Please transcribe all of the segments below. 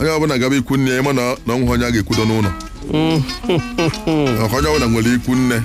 onye ọbụla gaba ikwu nne ya ịma na o nweghị onye a ga-ekwudo n'ụlọ maka onye ọbụla nwere ikwu nne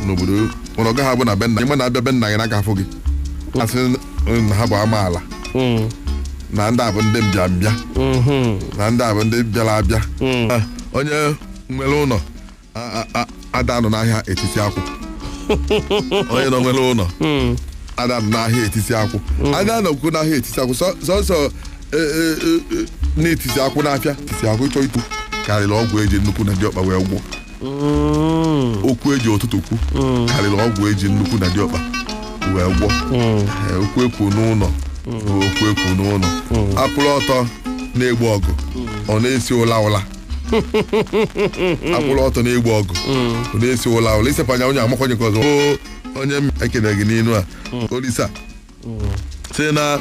n'obodo mana ọ gaghị abụ na be nna ịma na abịa be nna gị n'aka afọ gị asị na ha bụ amaala na ndị a bụ ndị mbịa mbịa na ndị a bụ ndị bịara abịa Ah, onye nwere ụlọ ada anọ n'ahịa etisi akwụ onye nọ nwere ụlọ ada anọ n'ahịa etisi akwụ ada anọkwu n'ahịa etisi akwụ sọ- sọsọ e, e, e, e, na-etisi akwụ n'afịa etisi akwụ ịchọ ikwu karịrị ọgwụ eji nnekwu na diọkpa wee gwọ okwu eji ụtụtụ kwu karịrị ọgwụ eji nnekwu na diọkpa wee gwọ Ee, okwu ekwu n'ụlọ bụ okwu ekwu n'ụlọ akwụrụ ọtọ na-egbu ọgụ ọ na-esi ụla ụla akwụrụ ọtọ na-egbu ọgụ ụdị esi ụla ụla isepanya onye amakwanye ka ọzọ Oo, onye m ekene gị n'inu a olisa sị na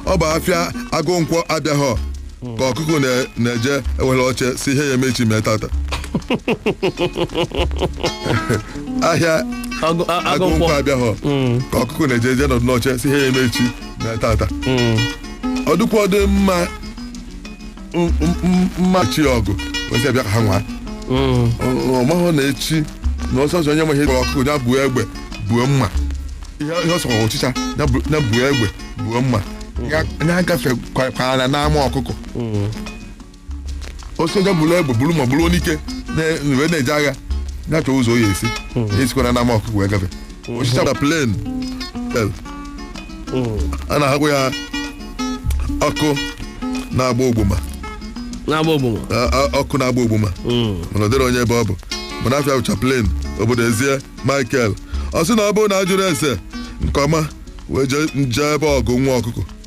ọ bụ afịa agụ nkwọ abịaghọ ka ọkụkụ na- na-eje ewere oche sị ihe ya-eme echi mee tata ahịa Agụ- a- agụ agụ nkwọ nkwọ. abịaghọ ka ọkụkụ na-eje eje nọdụ n'oche sị ihe ya-eme echi mee tata ọ dịkwa dị mma m- m- m- mmachi ọgụ ozi abịa ka ha nwaa Mm. ọ mahụ na echi na ọsọ ọsọ onye nwe ihe gwara ọkụ ya buo egbe buo mma ihe ihe ọ sọrọ ọchịcha ya bu- ya buo egbe buo mma ya ya agafe kwa- kwara n'ama ọkụkọ Mm. ọchịcha buru egbe buru mma buru anyike na- wee na-eje agha ya chọọ ụzọ ọ ya-esi esikwara n'ama ọkụkọ wee gafe osisi na plen a na-agwakwa ya ọkụ na-agba ogbuma na-agba ogbuma A- a- ọkụ na-agba ogbuma mana ọ dịrị onye ebe ọ bụ mana afịa bụcha plen obodo eze michael ọ sị na ọ bụrụ na a jụrụ ese nke ọma wee jee nje ebe ọgụ nwa ọkụkọ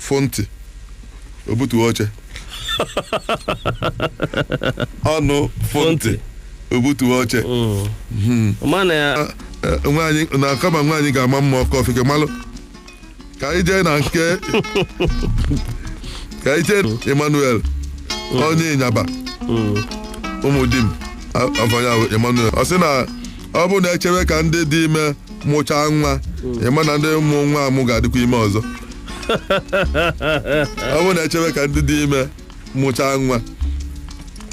fụ ntị o butuo oche ọnụ fụ ntị o butuo oche mana ya Eh, nwaanyị na kama nwaanyị ga-ama mma ọkọ ofike malụ ka anyị jee na nke ka anyị jee emmanuel onye ịnyaba ụmụdim afa ya bụ emmanuel ọ sị na ọ bụrụ na echewe ka ndị dị ime mụchaa nwa ịma na ndị mụrụ nwa amụ ga-adịkwa ime ọzọ ọ bụrụ na echewe ka ndị dị ime mụchaa nwa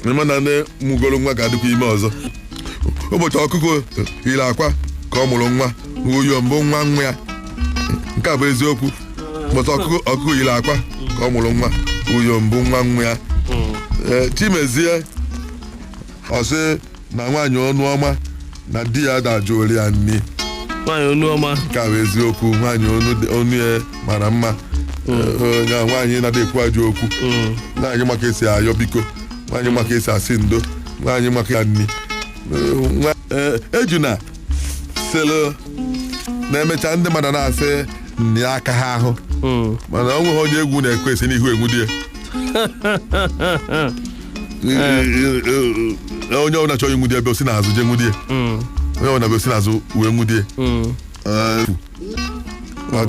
ịma na ndị mụgoro nwa ga-adịkwa ime ọzọ ụbọchị ọkụkọ yiri akwa ka ọ mụrụ nwa uyom bụ nwa nwa ya nke a bụ eziokwu ụbọchị ọkụkọ ọkụkọ yiri akwa ka ọ mụrụ nwa uyom bụ nwa nwa ya Ee, chimezie ọ sị na nwaanyị ọnụ ọma na di ya ada ajụrụ ya nni nwaanyị ọnụ ọma nke a bụ eziokwu nwaanyị ọnụ dị- ọnụ ya mara mma onye a nwaanyị na-adị ekwu ajọ okwu nwaanyị ma ka e si ayọ biko nwaanyị ma ka e si asị ndo nwaanyị maka ya nni Eh, nwa- eh, ejuna sịlụ na e mechaa ndị mmadụ na-asị na ya akaha ahụ Mm. mana ọ nweghị onye egwu na-ekwe esi n'ihu enwude ya onye ọbụla chọrọ inwude ya bụ o si n'azụ jee nwude ya onye ọbụla bụ o si n'azụ wee nwude ya